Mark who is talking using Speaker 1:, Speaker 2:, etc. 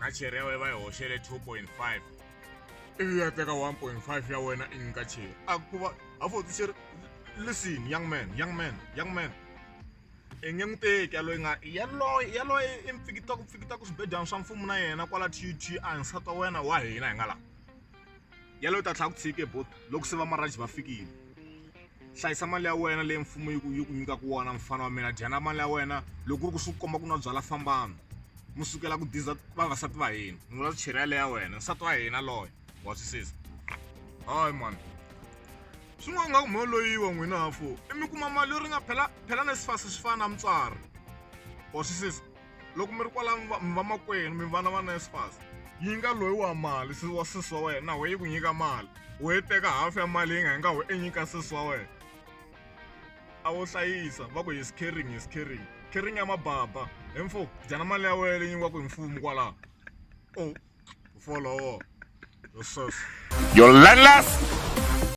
Speaker 1: na cheri ya wena va yi hoxele 2.5 ivi ya teka 1.5 ya wena i nyika cheri a ku va a foti cheri listen young man young man young man i nge n'wi teki yaloyi nga yaloye yaloye i mpfikitako mpfikitako swibedyana swa mfumo na yena kwala tut a nsati wa wena wa hina hi nga laha yalo u ta tlhela ku tshike bot loko se vamaraji va fikile hlayisa mali ya wena leyi mfumo yi ku yi ku nyikaka wona mfana wa mina dyana mali ya wena loko ku ri ku swi komba ku nwa byala fambana mi sukela ku diza vavasati va hina mi vula cheri yale ya wena nsati wa hina loyo wa twisisa hayi mani swin'wana nga ku mho loyiwa n'wina hafo i mi kuma mali yo ri nga phela phela na swifasi swi fana na mutswari wa twisisa loko mi ri kwala mi va mi vamakwenu mi vana va NSFAS yi nga loyi wa mali se wa sesi wa wena na we yi ku nyika mali u yi teka hafu ya mali yi nga yi nga wu e nyika sesi wa wena a wo hlayisa va ku hi scaring hi scaring caring ya mababa hi mfo dyana mali ya wena leyi nyikiwaka hi mfumo kwalaho o
Speaker 2: folowo
Speaker 1: yo sesi
Speaker 2: yo
Speaker 1: landless